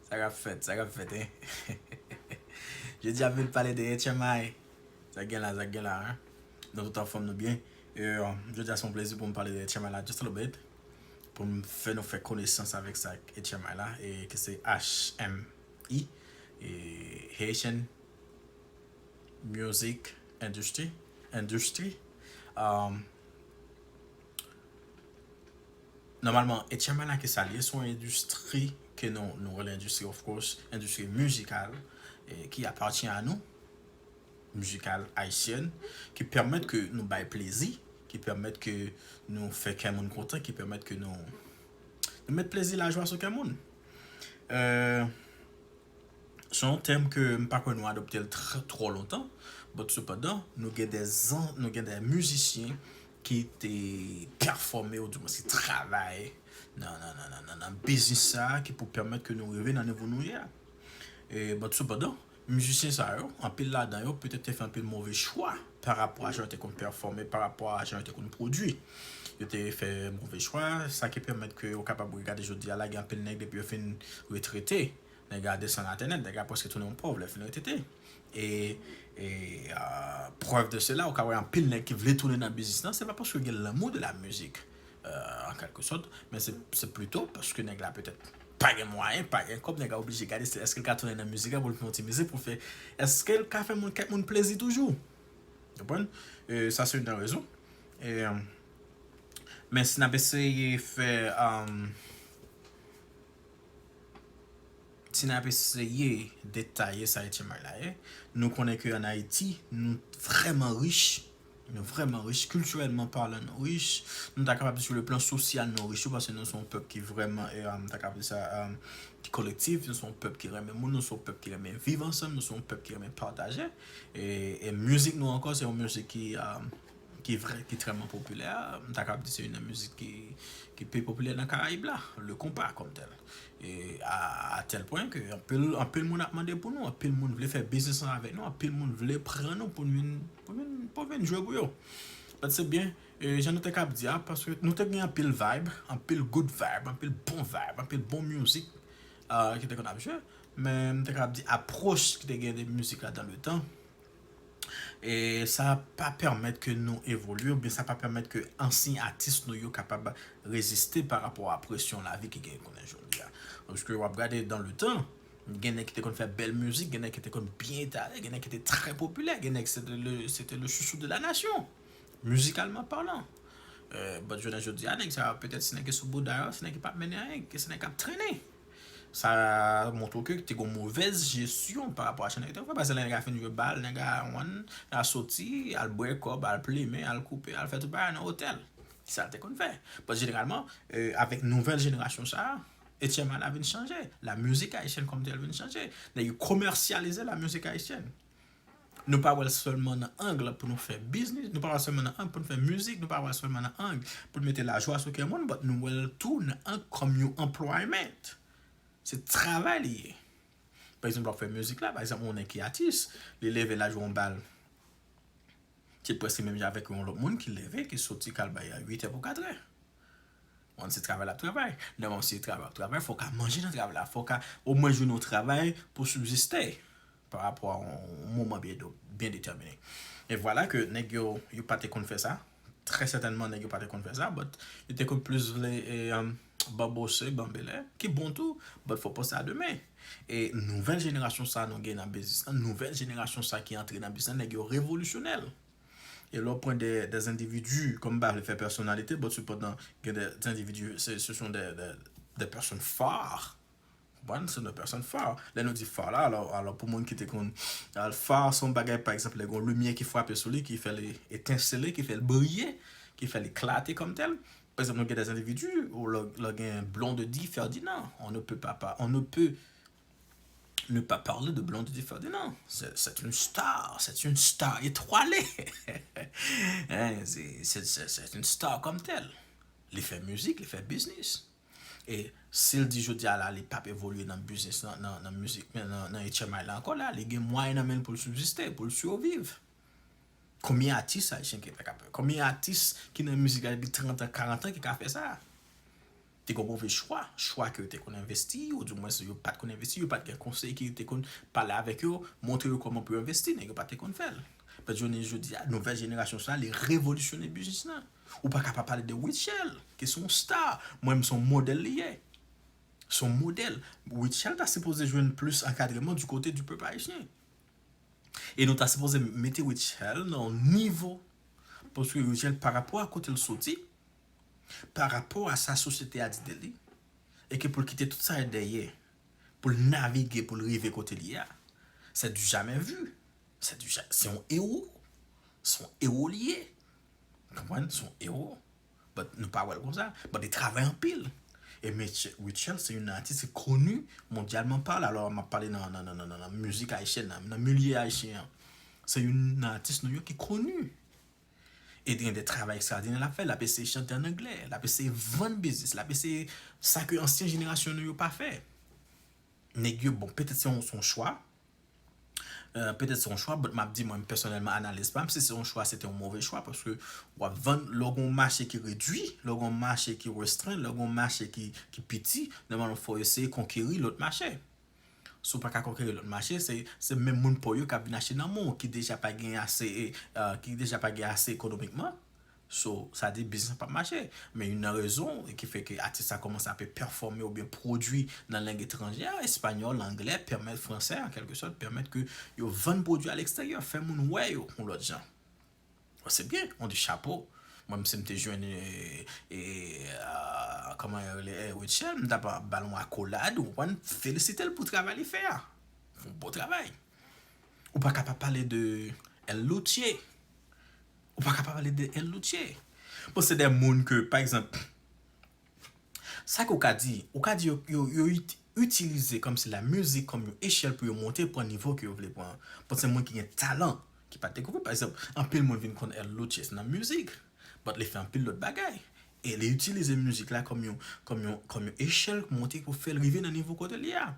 Sa kap fèt, sa kap fèt hein Jodi a vin pale de HMI Sa gen la, sa gen la hein Nou tout anfòm nou byen Jodi a se yon plezi pou m pale de HMI la just a little bit Pou m fè nou fè konesans avèk sa HMI la Ki se HMI Haitian music industry industry um Nòmalman Etchyamana ki sa li ye se yon endistri ke nou nou rele endistri of course endistri mizikal ki apatyen a nou mizikal ayisyèn ki pèmèt ke nou bay plezi ki pèmèt ke nou fè kè moun kontan ki pèmèt ke nou nou met plezi lajwa sou kè moun eeuh Se yon tèm ke m pa kwè nou adopte l twò lontan, but sepandan nou gen de zan, nou gen de mizisyen ki te pèfòme ou di mwen se travay nan biznis sa a ki pou pèmèt ke nou rive nan nivo nou ye a. But sepandan, mizisyen sa yo, anpil ladan yo petèt te fè anpil move chwa. parapò a jan yo te konn pèfòme, parapò a jan yo te konn pwodui. Yo te fè move chwa, sa ki pèmèt ke ou kapab gade jodi a la gen anpil nèg depi yo fin retrete, nèg la desann atè nèt, nèg la prèske tounen yon pòv lè l fin retrete. E prèv de sela, ou ka wè anpil nèg ki vle tounen nan biznis lan, se pa paske yo gen lanmou de la mizik. an kèlke sòt, men se plito paske nèg la petèt pa gen mwayen, pa gen kòb, nèg la oblije gade se èske l ka tounen nan mizik la pou l fè yon ti mizik pou l fè, èske l ka fè moun kèk moun plezi toujou. Ou konprann? Sa se youn nan rezon. Men si n ap eseye fè, si n ap eseye detaye sa Etchen May la ye, nou konnen ke an Ayiti nou vrèman rich Nou vrèman rich, kiltirèlman palan nou rich, nou ta kapab di sou le plan sosyal nou rich tou paske nou se yon pèp ki vrèman, nou ta kapab di sa, ki kolektif, nou se yon pèp ki renmen moun, nou se yon pèp ki renmen viv ansanm, nou se yon pèp ki renmen pataje. E mizik nou ankò se yon mizik ki ki vrè, ki trèman popilè, m ta kapab di se youn nan mizik ki pi popilè nan karayib la, le konpa kòm tèl. E a tèl pwen ke anpil moun ap mande pou nou, anpil moun vle fè biznis ansanm avèk nou, anpil moun vle pran nou pou nou vin. Mwen menm m poko vin jwe pou yo. But se byen jan nou te kap di a paske nou te gen anpil vibe, anpil good vibe, anpil bon vibe, anpil bon music ki te konn ap jwe men m te kap di approche ki te gen de music la dans le temps e sa pa permet ke nou evolye oubyen sa pa permet ke ansyen atis nou yo kapab reziste pa rapò a presyon lavi ki gen kounye jodi a paske wap gade dans le temps Gen nèg ki te konn fè bèl mizik, gen nèg ki te konn byen etale, gen nèg ki te trè popilè, gen nèg se te le se te le chouchou de la nasyon, mizikalman palan. Bat jounen jodi a nèg sa yo petèt se nèg ki sou bouda yo, se nèg ki pa p mennen anyen, se nèg k ap trennen. Sa montre ke te gen yon movèz jesyon pa rapò a sa nèg yo te fè. Paske lè nèg a fin jwe bal, nèg a wàn, nèg a soti, al bwè kòb, al plimen, al koupe, al fè tout bagay nan otèl. Se sa l te konn fè. Paske jeneralman, avèk nouvèl jenerasyon sa a, Etyèm an la vin chanje. La mizik ayisyèn kòm tèl vin chanje. Nèg yo komèsyalize la mizik ayisyèn. Nou pa wè l sèlman nan ang la pou nou fè biznis, nou pa wè l sèlman nan ang pou nou fè mizik, nou pa wè l sèlman nan ang pou nou mete lajwa sou kè moun, but nou wè l tou nan ang kòm yon anplwayment. Se travay li ye. Pa egzanp wap fè mizik la, pa egzanp yon nèg ki atis, li leve la jwe yon bal, se prèske menm jan avèk yon lòt moun ki leve, ki soti kal bay a 8 è pou 4 è. Moun se travay lap travay. Lè moun se travay wap travay, fòw ka manje nan travay la, fòw ka omwen jwenn yon travay pou sibsiste pa rapò a yon moman byen detèmine. E vwala ke nèg yo, yo pa te konn fè sa, trè sètènman nèg yo pa te konn fè sa, but yo te konn plis vle banbose, banbele, ki bon tou, but fò panse a demen. E nouvèl jenerasyon sa nou gen nan biznis lan, nouvèl jenerasyon sa ki antre nan biznis lan, nèg yo revolisyonè. E lè w pran des individus, kòm m pa vle fè pèsonalite, but sepandan gen des individus, se son des personnes phares, ou konprann, se son des personnes phares. Lè nou di phare la, alò pou moun ki te konn, phare se yon bagay pa egzanp lè gen yon limyè ki frape sou li, ki fè li etensele, ki fè li briye, ki fè li klate kòm tèl. Pa egzanp nou gen des individus, lè w gen Blondedy Ferdinand, on ne peut pas, on ne peut, ne pa parle de Blondedy Ferdinand, c'est une star, c'est une star etwale, c'est une star kom tel, li fè mizik, li fè biznis, e sil di jodi a la li pap evolye nan biznis lan, nan mizik, nan etchenmay la anko la, li gen mwayen nan menl poul sibsiste, poul siyoviv, konbyen atis ayisyen ki ta ka fè, konbyen atis ki nan mizik la depi 30 an, 40 an ki ka fè sa. Te gen yon move chwa, chwa ke yo te konn envesti, ou di mwen se yo pat konn envesti, yo pat gen konsey ki te konn pale avèk yo, montre yo kòman pou yo envesti, nèg yo pa te konn fèl. Mèt jounen jodi a, nouvèl jenerasyon sa, li revolisyone biznis lan. Ou pa ka pa pale de Rutshelle, ki se yon star, mwen menm se yon modèl li ye. Se yon modèl. Rutshelle ta sipoze jwenn plis ankadreman di kote di pèp ayisyen. E nou ta sipoze mete Rutshelle nan yon nivo, paske Rutshelle pa rapò a kote li soti, pa rapò a sa sosyete a di de li, e ke pou l kite tout sa yo dèyè, pou l navige pou l rive kote l ye a, sè di jamè vi, sè di ja, se yon ewo, se yon ewo li ye, ou konprann, se yon ewo, but nou pa wè l konsa, but li travay anpil, e mesye Rutshelle se youn nan atis ki koni mondyalman pale, alò m ap pale nan, nan, nan, nan mizik ayisyèn nan, nan milye ayisyen an, se youn nan atis nou yo ki koni. E te gen de travay ekstwadinè l ap fè. L ap eseye chante ann angle. L ap eseye vann biznis. L ap eseye sa ke ansyen jenerasyon nou yo pa fè. Nèg yo bon, petèt se yon chwa. Petèt se yon chwa, bòt m ap di mwen pèsonèlman analiz pa m, si se yon chwa se te yon move chwa paske w ap vann lè w gen yon mache ki redui, lè w gen yon mache ki restren, lè w gen yon mache ki piti, nòmalman fò w eseye konkeri lòt mache. Si w pa ka konkeri lòt mache, se menm moun pa w yo k ap vin achte nan men w ki deja pa gen ase, ki deja pa gen ase ekonomikman. So, sa di biznis lan p ap mache. Men youn nan rezon ki fè ke atis sa kòmanse ape pèfòme oubyen pwodui nan lang etranjè a, espanyòl, anglè, pèmèt fransè an kèlke sòt, pèmèt ke yo vann pwodui a lekstèryè, fè moun wè yo yon lòt jan. Bon se byen, on di chapo. Mwen menm si m te jwenn e, kòman yo rele e, Rutshelle, m ta pral ba l yon akolad, ou konprann, felisite l pou travay li fè a. Yon bon travay. Ou pa ka pa pale de El Louthier. Ou pa ka pa pale de El Louthier. Bon se de moun ke, pa egzanp, Sa ke ou ka di? Ou ka di yo yo itilize kòmsi la mizik kòm yon echèl pou yo monte pran nivo ke yo vle pran an. Bon se moun ki gen talan ki pa dekouvri. Pa egzanp, anpil moun vin konn L. Loutches nan mizik, but li fè anpil lòt bagay. E li itilize mizik la kòm yon kòm yon kòm yon echèl pou monte pou fè l rive nan nivo kote li a.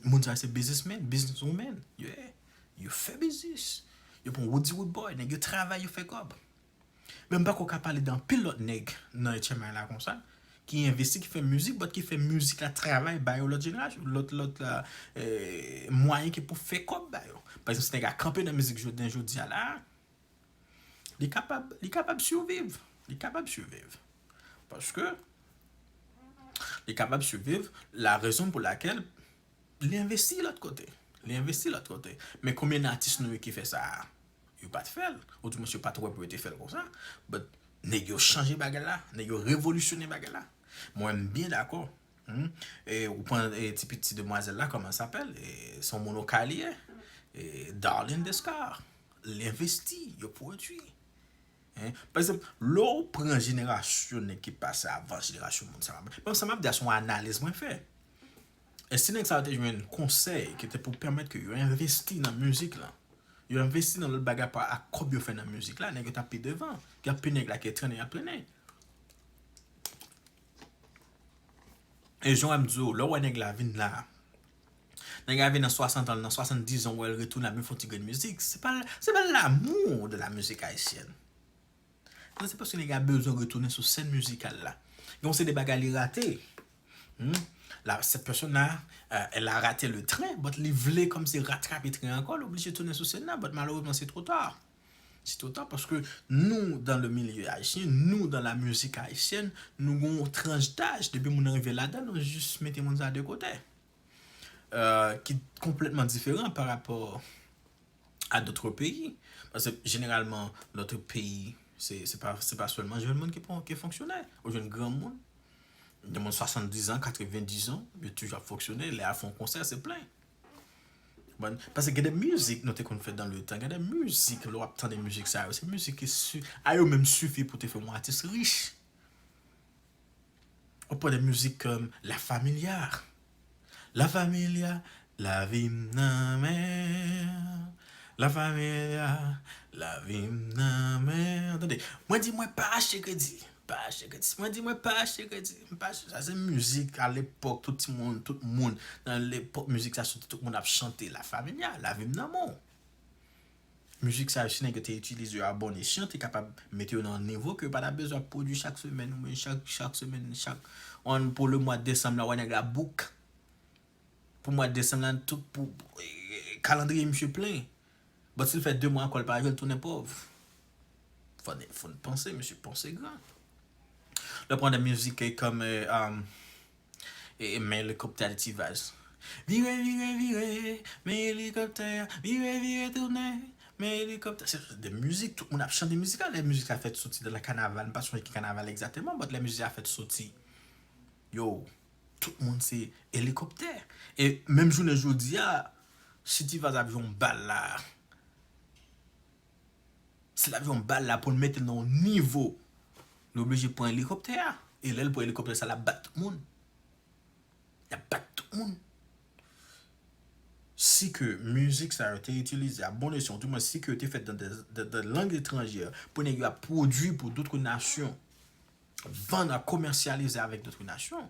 Moun sa yo se bizismen, business women. Yeah. Yo fè biznis. Yo pran wout di wout bòy. Nèg yo travay, yo fè kòb. Men m pako ka pale de anpil lòt nèg nan etchenmay la konsa ki envesti ki fè mizik but ki fè mizik la travay ba yo lòt jenerasyon lòt lòt mwayen ki pou fè kòb ba yo pa egzanp si nèg la kanpe nan mizik jounen jodi a la a li kapab li kapab siviv li kapab siviv paske li kapab siviv la rezon pou lakèl li envesti lòt kote li envesti lòt kote men konbyen atis nou yo ki fè sa a. Yo pat fèl. Ou di mwen se pat wè pou yo te fèl konsa. But nèg yo chanje bagay la. Nèg yo revolisyone bagay la. Mwen m byen dakò. E ou pran ti piti demwazèl la kòman l sapèl. Se yon moun okay li ye. Darline Descartes. L envesti. Yo pwodui. Pa egzanp lè ou pran jenerasyon nèg ki pase avan jenerasyon moun sa. Sa m ap di a se yon analiz mwen fè. E si nèg sa yo te jwenn konsèy ki te pou pèmèt ke yo envesti nan mizik lan, yo envesti nan lòt bagay pa ak kòb yo fè nan mizik la, nèg yo tap pi devan. Gen anpil nèg la ke trennen yap trennen. E jan wèm diw, lè ou wè nèg la vin la, nèg la vin nan 60 an, nan 70 an, ou wèl retounen ap vin fon ti grenn mizik, se pa se pa l'amour de la musique haïtienne. Sa se paske nèg la bezwen retounen sou sèn mizikal la. Gen yon seri de bagay li rate. Cette personne là, elle a rate le train, but li vle kòm se ratrape tren an ankò, li oblije tounen sou sèn nan, but malerezman se two ta. Se two ta paske nou dan le milye ayisyen, nou dan la mizik ayisyèn, nou gen yon tranch daj, depi moun nan rive ladan nou jis mete moun sa de kote. Ki konplètman diferan pa rapò. a dotre peyi. Paske jeneralman lotre peyi se pa selman jèn moun ki fonksyonè. Ou jwenn gran moun, gen moun 70 an, 90 an, yo toujou ap fonksyonè. Lè a fon konsè se plen. Paske gen de mizik nou te konn fè dan le tan. Gen de mizik lè w ap tande mizik sa yo. Se mizik ki si a yo menm sifi pou te fè yon atis rich. Ou pran de mizik la familia La familia Lavim nan men La familia Lavim nan men Tande Mwen di mwen pa achte kredi Pa achte kredi Mwen di mwen pa achte kredi Mpa achte Sa se mizik a lepòk tout ti moun tout moun nan lepòk mizik sa soti tout moun ap chante la familia Lavim nan men w Mizik sa yo si nèg yo te itilize yo a bon esyan te kapab mete yo nan yon nivo ke yo pa ta bezwen ap pwodui chak semèn oubyen chak chak semèn chak an pou le mwa desanm la wè nèg la bouk pou mwa desanm la tout pou kalandriye misye plen but si l fè 2 mwa ankò l pa jwe l tounen pòv fò n fò n panse mesye panse gran lè w pran de mizik kòm Men elikoptè al ti vaz. Vire vire vire men elikoptè a vire vire tounen men elikoptè se de mizik tout moun ap chante mizik la lè mizik la fèt soti nan kanaval m pa sonje ki kanaval egzateman but lè mizik la fèt soti yo tout moun se elikoptè e menm jounen jodi a si ti vaz ap jwe yon bal la Si l ap jwenn bal la pou l mete l nan yon nivo, li oblije pran elikoptè a. E lè l pran elikoptè sa l ap bat tout moun. L ap bat tout moun. Si ke mizik sa yo te itilize a bon esyon, di mwen si ke yo te fèt nan de lang etranjè pou nèg yo ap pwodui pou dotre nasyon, vann ak komèsyalize avèk dotre nasyon.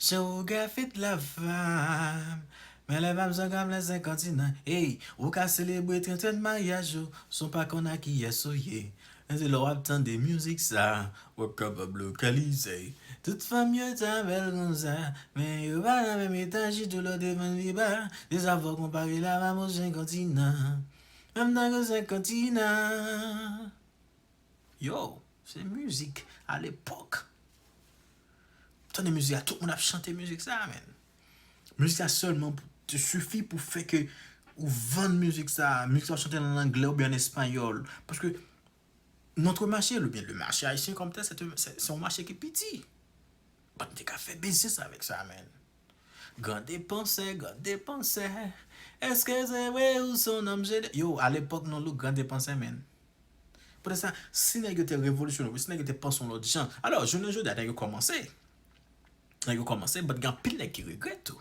Jewografit la fèm Men lè map zon gam lè 5 kontinan Eyy ou ka selebre 30 an maryaj ou San w pa konn a kiyès ou ye Men se lè wap tande mizik sa Wap kapab lokalize Tout fanm yo ta bèl konsa Men yo pa nan menm etaj Chito lò devan pi ba Se sa fòk mwen pale la Map ou 5 kontinan Menm tankou 5 kontinan Yo, se mizik alepòk. Tande mizik la, tout moun ap chante mizik sa a men. Mizik sa sèlman te sifi pou fè ke ou vann mizik sa a. Mizik sa ou chante l an angle oubyen an espayòl. Paske, notre marché oubyen le marché haïtien kòm tèl, se yon mache ki piti. Bat m te ka fè biznis avèk sa men. Gran depansè, gran depansè, eske se vre ou son nonm se de. Yo, alepòk non look gran depansè men. Poutèt sa, si nèg yo te revolisyone oubyen si nèg yo te panse yon lòt jan, alò, jounen jodi a nèg yo kòmanse, nèg yo kòmanse but gen anpil nèg ki regrèt tou.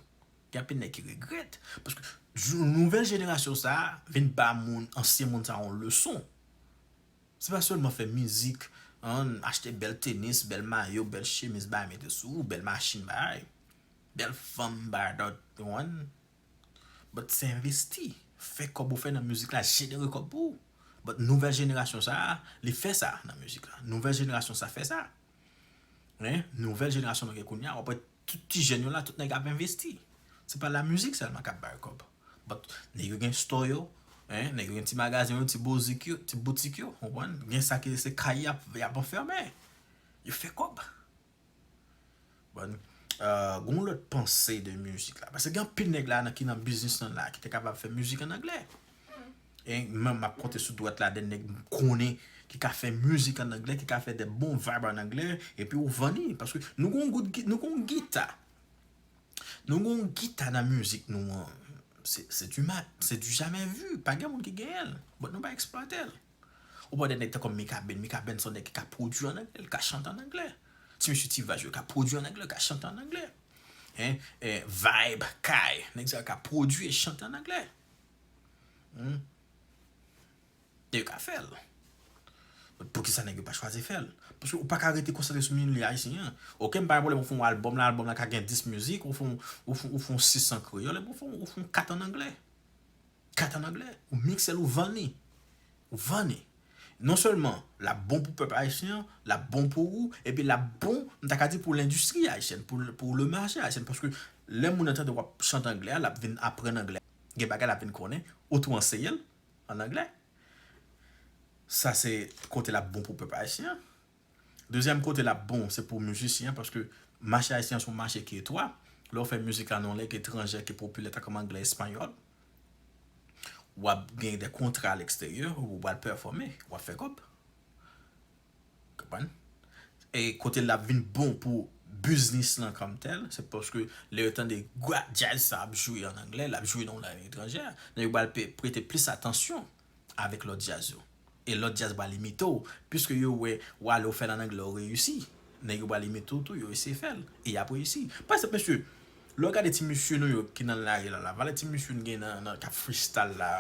Gen anpil nèg ki regrèt paske jou nouvèl jenerasyon sa a vin ba moun, ansyen moun sa yon leson. Se pa sèlman fè mizik, an, achte bèl tenis, bèl mayo, bèl chemiz bay mete sou ou, bèl machin bay, bèl fanm bay dat, ou konprann? But se envesti, fè kòb ou fè nan mizik la jenere kòb pou ou. But nouvèl jenerasyon sa a, li fè sa nan mizik la. Nouvèl jenerasyon sa fè sa. Men, nouvèl jenerasyon nou gen kounye a, w ap wè tout ti jèn yo la, tout nèg ap envesti. Se pa lamizik sèlman k ap ba yo kòb. But, nèg yo gen store yo, nèg yo gen ti magazen yo, ti bozik yo, ti boutik yo, konprann? Gen sa ki se kay y ap anfème. Yo fè kòb. Bon Gon lòt panse de mizik la Pase gen anpil nèg la ki nan biznis lan la Ki te kapab fè mizik an anglè E mwen map konte sou dwat la de nèg m konnen Ki ka fè mizik an anglè Ki ka fè de bon vibe an anglè E pi ou vann li Paske nou gon gout git Nou gon gita Nou gon gita nan mizik nou an Se du mat Se du jamè vu Pa gen moun ki genyen l Bon nou pa eksplwate l Ou pa wè de nèg tankou Mikaben, Mikaben se yon nèg ki ka pwodui an angle, li ka chante an angle. Ti mesye T Vice yo ka pwodui an angle, yo ka chante an angle. Vibe, Kay, nèg sa yo ka pwodui e chante an angle. E yo ka fè l. Poukisa nèg yo pa chwaze fè l? Paske ou pa ka rete konsantre sou milyonè ayisyen an. Ok m pa gen pwoblèm ou fè yon albòm lan, albòm lan ka gen 10 mizik, ou fè yon 6 an kreyòl epi ou fè yon 4 an angle. Kat an anglè, ou miksel ou vann li. Ou vann li. Non sèlman lap bon pou pèp ayisyen an, lap bon pou ou, epi lap bon m ta ka di pou lendistri ayisyèn, pou le mache ayisyen paske lè moun nan tande wap chante anglè a lap vin aprann anglè. Gen bagay lap vin konnen, ou tou anseye l an anglè. Sa se kote lap bon pou pèp ayisyen an. Dezyèm kote lap bon se pou mizisyen an paske mache ayisyen an se yon mache ki etwa. Lè w fè mizik la nan yon lang etranjè ki popilè tankou anglè, espanyòl, wap gen de kontra alèksteryè ou wal pèfòme, wap fè kòb. Konprann? E kote lap vin bon pou biznis lan kòm tèl se paske lè yo tande gwa djaz sa ap jwe an anglè, lap jwe nan yon lang etranjè, yo pral prete plis atansyon avèk lòt djaz yo e lòt djaz pral imite w piske yo wè ou ale ou fè l an anglè ou reyisi nèg yo pral imite w tou yo eseye fè l e y ap reyisi pa egzanp mesye lè w gade ti mesye nou yo ki nan lari la la valè ti mesye n gen nan k ap freestyle la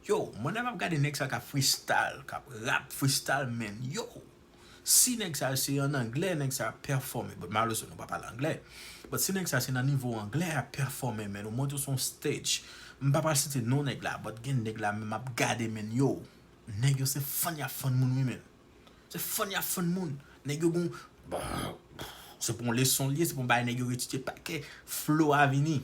yo mwen lè m ap gade nèg sa yo k ap freestyle k ap rap freestyle menn yo Si nèg sa se an anglè nèg sa ap pèfòme but malerezman nou pa pale anglè but si nèg sa se nan nivo anglè yap pèfòme men ou monte sou yon stage m pa pral site non nèg la but gen nèg la men map gade men yow nèg yo se fann yap fann moun wi menn se fann yap fann moun nèg yo gon se pou yon leson li ye se pou yon bagay nèg yo retire pakè flow a vini.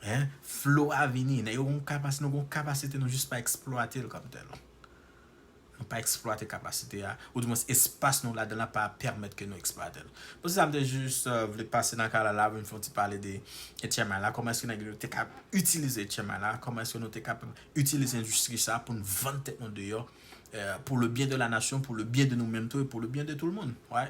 Hein flo a vini nèg yo gon kapas nou gon kapasite nou jis pa eksplwatel kòm tèl nou pa eksplwate kapasite a ou di mwens espas nou ladanl la pa pèmèt ke nou eksplwatel bon se sa mte jis vle pase nan kanal la poum fon ti pale de etchèmay la kòman eske nèg yo te ka itilize etchèmay la kòman eske nou te ka itilize endistri sa poun vann tèt nou deyò pou le byen de la nasyon pou le byen de nou menm tou e pou le byen de tout moun wy.